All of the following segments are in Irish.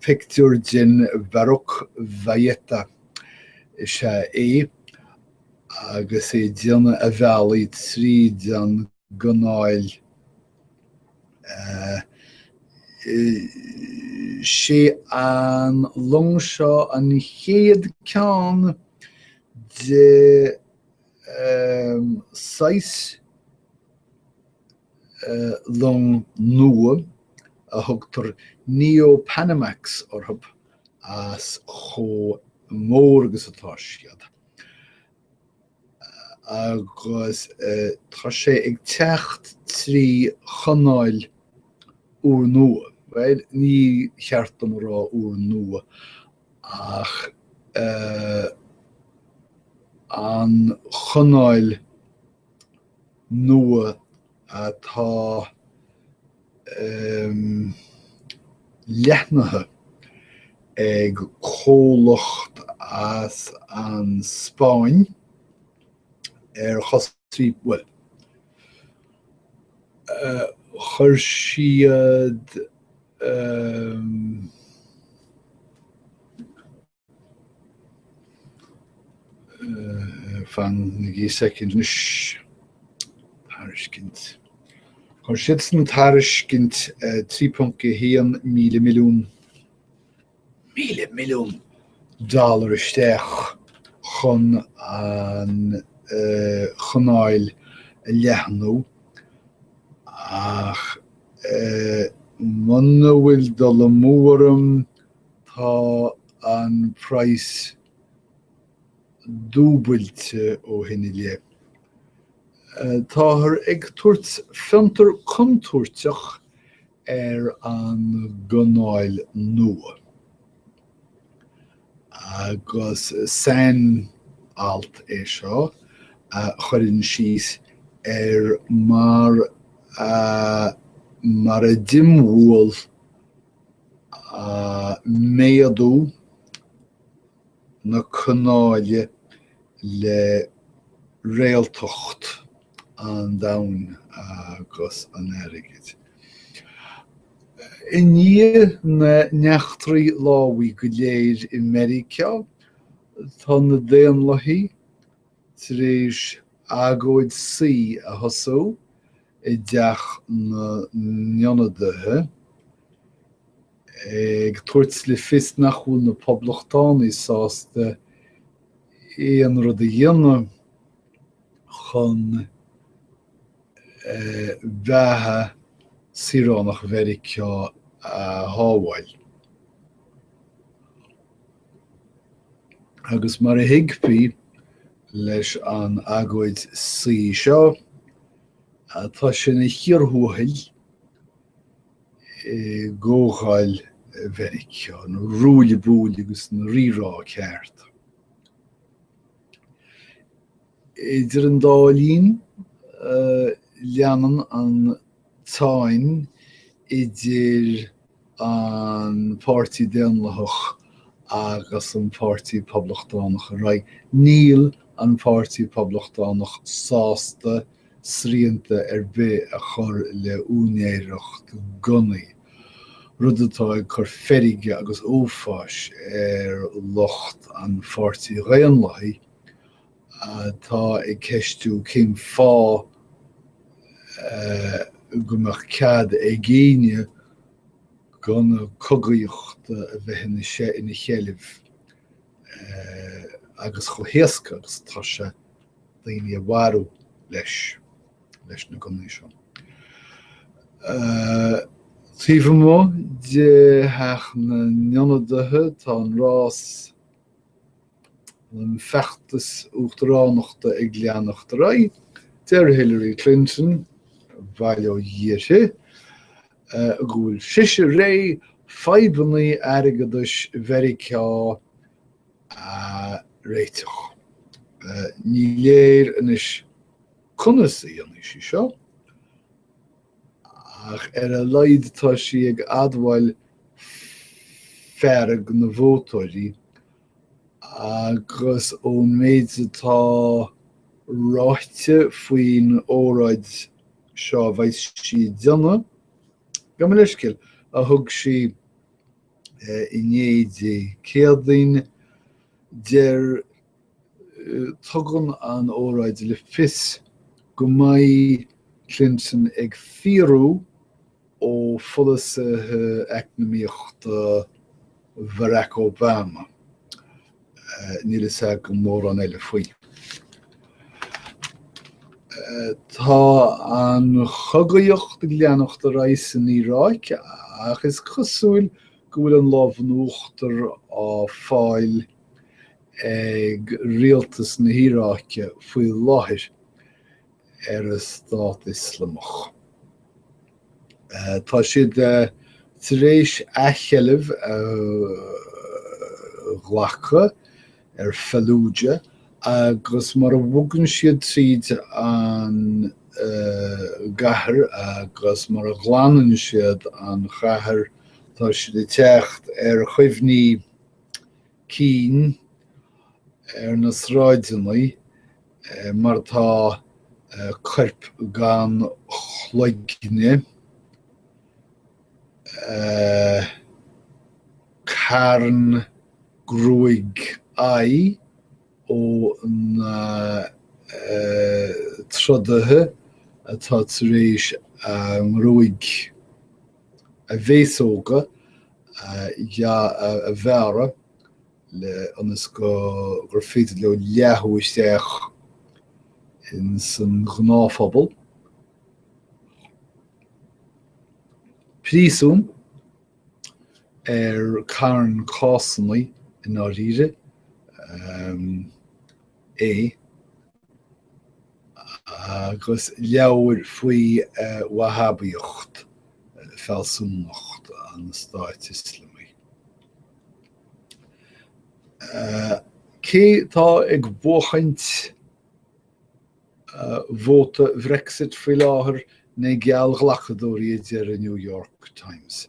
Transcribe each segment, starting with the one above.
Pictiúr den Baroque Valletta is ea é agus é ag déanamh a bhealaigh tríd an gcanáil Sé an long seo an chéad ceann de shaghas long nua a thugtar Neo-Panamax orthu as chomh mór agus atá siad agus tá sé ag teacht trí chanáil úrnua, bhuel, ní ceart dom a rá úrnua ach an chanáil nua atá leathnaithe ag comhlacht as an Spáinn ar chostas, bhuel, chuir siad, Fanaigí soicind anois. Tairiscint. Chuir siadsan tairiscint 3.1 míle milliún míle milliún dollar isteach chun an chanáil a leathnú ach muna bhfuil dul amú orm Tá an praghas dúbailte ó shin i leith. Táthar ag tabhairt fiontar contúirteach ar an gcanáil nua. Agus san alt é seo a chuireann síos ar mar a mar a d'imbhuail méadú na canálach le réaltacht an domhain agus an airgid. I ndiaidh na n-eachtraí lámhaigh go léir i Meiriceá, tá na Daonlathaigh tar éis agóid suí a thosú i dTeach na nIonadaithe, ag tabhairt le fios nach bhfuil na Poblachtánaigh sásta aon rud a dhéanamh chun beatha saoránach Mheiriceá a shábháil. Agus mar a thuigfí leis an agóid suí seo, Tá sé ina chíor thuathail i gComhdháil Mheiriceá, ina ruaille buaille agus ina rírá ceart. Idir an dá linn, leanann an tsáinn idir. an Páirtí Daonlathach agus an Páirtí Poblachtánach ar aghaidh, níl an Páirtí Poblachtánach sásta srianta ar bith a chur le úinéireacht gunnaí, rud atá ag cur feirge agus uafáis ar lucht an Pháirtí Dhaonlathaigh, atá ag ceistiú cén fáth go mbeadh cead ag éinne gunna cogaíochta a bheith ina sheilbh agus chomh héasca agus atá sé daoine a mharú leis, leis na gunnaí seo. Taobh amuigh de Theach na nIonadaithe, tá an rás an feachtas uachtaránachta ag leanacht ar aghaidh, deir Hillary Clinton, bail ó Dhia uirthi, go bhfuil sise réidh fadhbanna airgeadais Mheiriceá a réiteach. Ní léir anois conas a dhéanfaidh sí seo, ach ar a laghad tá sí ag admháil fearg na vótóirí agus ón méid atá ráite faoin óráid seo a bheidh sí ag déanamh gabh mo leithscéal a thug sí inné, Dé Céadaoin. Deir, tugann an óráid le fios go mbeidh Clinton ag fiaradh ó pholasaithe eacnamaíochta Bharack Obama, níl fhios agam mórán eile faoi. Tá an chogaíocht ag leanacht ar aghaidh san Iaráic ach is cosúil go bhfuil an lámh in uachtar á fáil ag rialtas na hIaráice faoi láthair ar an Stát Ioslamach. Tá siad tar éis athsheilbh a ghlacadh ar Fallujah agus mar a bhogann siad tríd an gcathair agus mar a ghlanann siad an chathair tá siad ag teacht ar chuimhní cinn ar na sráideannaí mar atá coirp gan chloigne, carn gruaig aghaidhe ó na trodaithe atá tar éis a ngruaig a bhféasóga a bhearradh le ionas gur féidir leo leá isteach ins an ngnáthphobal. Príosún ar carn cásannaí i ndáiríre é. agus leabhair faoi Wahhabíocht, fealsúnacht an Stáit Ioslamaigh. Cé tá ag buachaint vóta Brexit faoi láthair na geallghlacadóirí a deir an New York Times.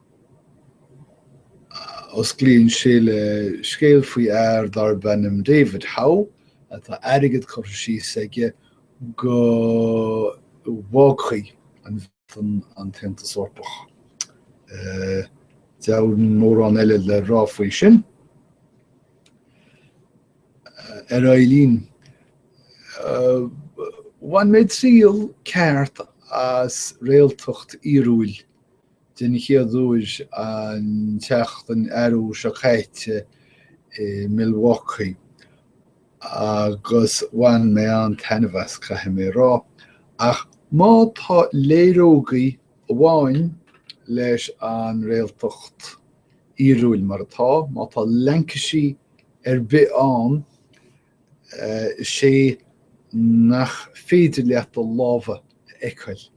Osclaíonn sé le scéal faoi fhear darb ainm David Howe atá airgead curtha síos aige go bhfágfaidh an Bhreatain an tAontas Eorpach. Dheamhan mórán eile le rá faoi sin. Ar aghaidh linn. Bhain mé triail ceart as réaltacht fhíorúil den chéad uair an tseachtain arú seo caite i Milwaukee agus bhain mé an-taitneamh as, caithfidh mé a rá. Ach má tá léaró gaí amháin leis an réaltacht fhíorúil mar atá, má tá laincisí ar bith ann, is é nach féidir leat do lámha a fheiceáil.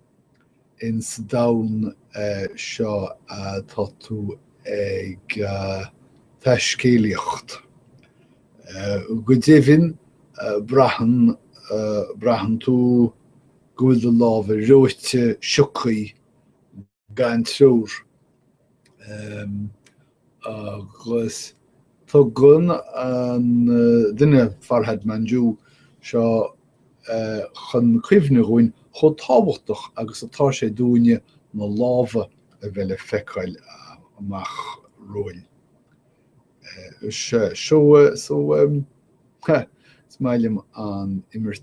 insa domhan seo atá tú ag taiscéalaíocht. Go deimhin, braitheann, braitheann tú go bhfuil do lámha reoite, siocthaí, gan treoir. agus tugann an duine, Farhad Manjoo, seo chun cuimhne dhúinn chomh tábhachtach agus atá sé dúinne na lámha a bheith le feiceáil amach romhainn. Sea, is maith liom an imirt.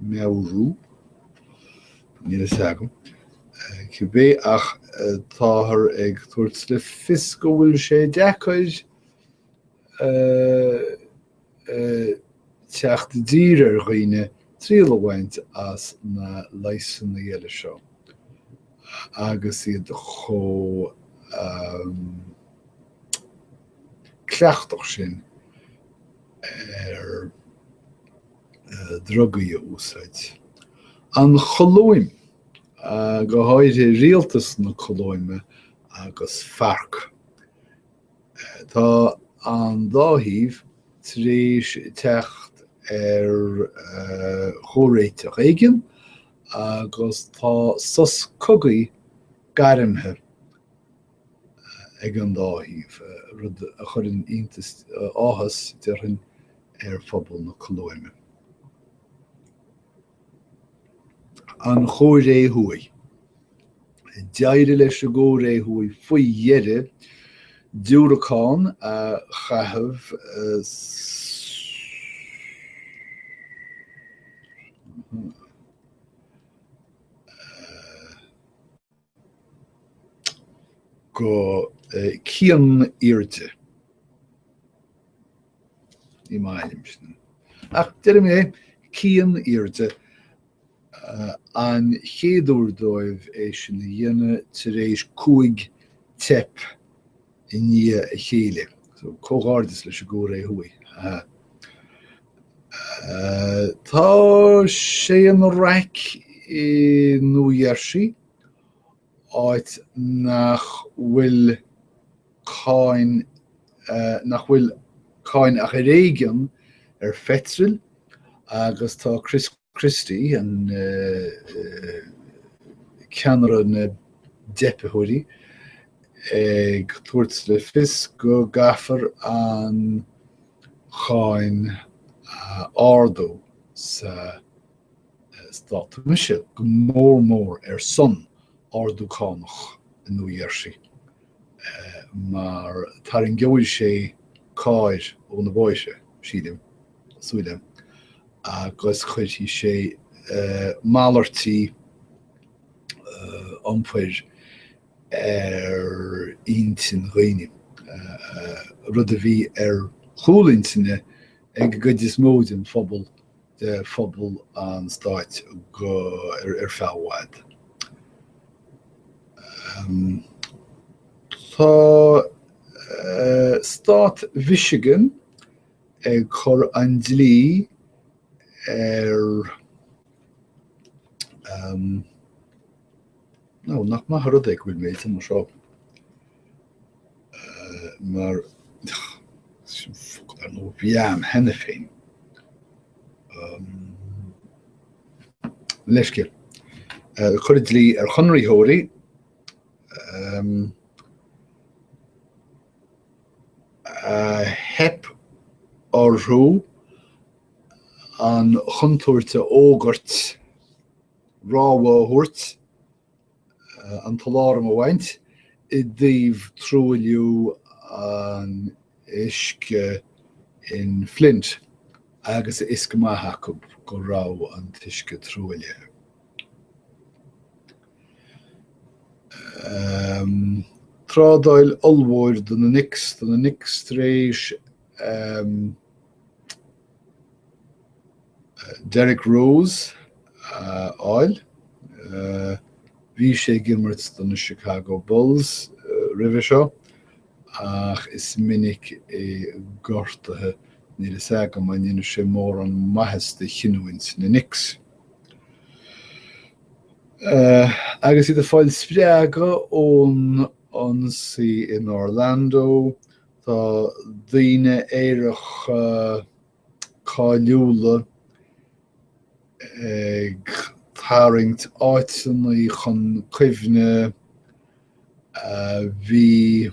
mheabhrú. Níl a fhios agam, cibé, ach táthar ag tabhairt le fios go bhfuil sé deacair teacht i dtír ar dhaoine triail a bhaint as na leigheasanna eile seo agus iad chomh cleachtach sin ar drugaí a úsáid. An Cholóim, go háirithe rialtas na Colóime agus Farc. Tá an dá thaobh tar éis teacht ar chomhréiteach éigin agus tá sos cogaidh gairmthe. ag an dá thaobh, rud a chuireann iontas, áthas, déarfainn, ar phobal na Colóime. An Chóiré Thuaidh. D'éirigh leis an gCóiré Thuaidh faoi dheireadh diúracán a chaitheamh go cian aoirde. Ní maith liom sin. Ach deirim é cian aoirde uh, an chéad uair dóibh é sin a dhéanamh tar éis cúig teip i ndiaidh a chéile. So, comhghairdeas leis an gCóiré Thuaidh, ha ha. Tá sé ina raic i Nua Gheirsí, áit nach bhfuil cáin, nach bhfuil cáin ach ar éigean ar pheitril agus tá Chris Christie, an ceannaire na dteipitheoirí, ag tabhairt le fios go gcaithfear an cháin a ardú sa stát. Tá mise go mór mór ar son ardú cánach i Nua Gheirsí, mar tarraingeoidh sé cairr ó na bóithre, sílim. súile agus cuirfidh sé malairtí iompair ar intinn daoine, rud a bhí ar chúl intinne ag an gcuid is mó den phobal de phobal an stáit ar feadh i bhfad. Tá stát Mhichigan ag cur an dlí ar, nach maith an rud é go bhfuil mé de mo mharú seo mar a bhíonn cheana féin, leisce, ag cur an dlí ar chonraitheoirí, Theip orthu an chontúirt a fhógairt, rabhadh a thabhairt, an t-aláram a bhaint i dtaobh truailliú an uisce in Flint agus fios go maith acu go raibh an t-uisce truaillithe. trádáil ollmhóir do na Knicks, do na Knicks tar éis Derrick Rose a fháil. Bhí sé ag imirt do na Chicago Bulls roimhe seo ach is minic é gortaithe, níl a fhios agam an ndéanfaidh sé mórán maitheasa do chinniúint na Knicks. Agus iad ag fáil spreagadh ón ionsaí in Orlando, tá daoine aeracha cáiliúla ag tarraingt áiteanna chun cuimhne a bhí,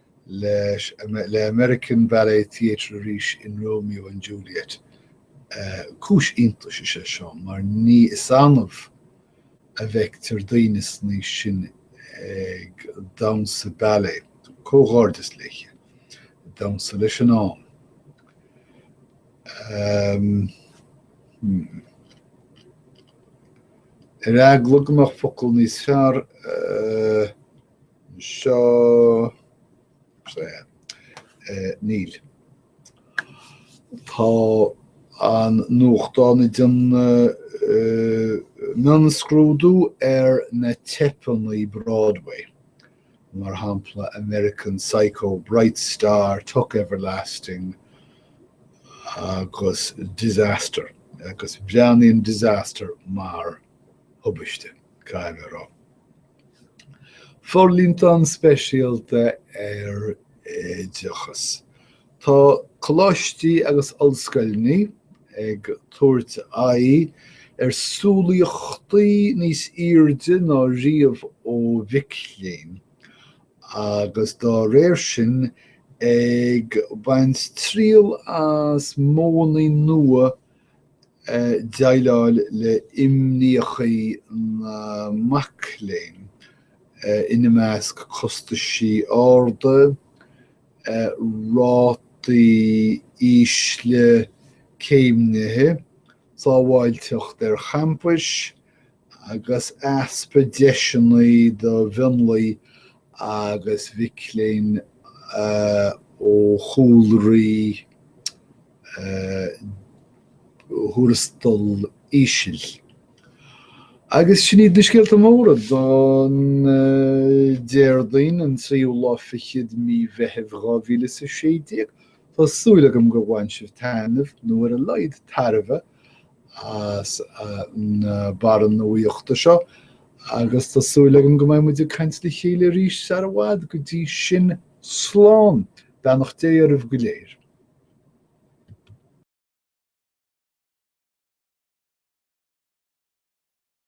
leis le American Ballet Theatre arís in Romeo and Juliet. Cúis iontais is ea seo mar is annamh a fheictear daoine san aois sin ag damhsa ballet. Comhghairdeas léi. Damhsa leis an am. Hmm. Ar eagla go mbeadh focal níos fearr, seo. Níl. Tá an nuachtán ag déanamh mionscrúdú ar na teipeannaí Broadway, mar shampla American Psycho, Bright Star, Tuck Everlasting agus Disaster, agus breathnaíonn Disaster mar thubaiste, caithfidh mé a rá. Forlíontán speisialta ar Oideachas. Tá coláistí agus ollscoileanna ag tabhairt aghaidh ar shúilíochtaí níos airde ná riamh ó mhic léinn agus dá réir sin ag baint triail as modhannaí nua déileáil le himníochaí na mac léinn, ina measc costaisí arda, rátaí ísle céimnithe, sábháilteacht ar champais, agus easpa deiseanna do mhionlaigh agus mhic léinn ó chúlraí thuarastal íseal. Agus sin iad na scéalta móra don Déardaoin an tríú lá fichead mí Mheithimh 2016. Tá súil agam gur bhain sibh taitneamh, nó ar a laghad tairbhe, as na barranna nuaíochta seo agus tá súil agam go mbeidh muid ag caint le chéile arís sar i bhfad go dtí sin slán beannacht Dé oraibh go léir.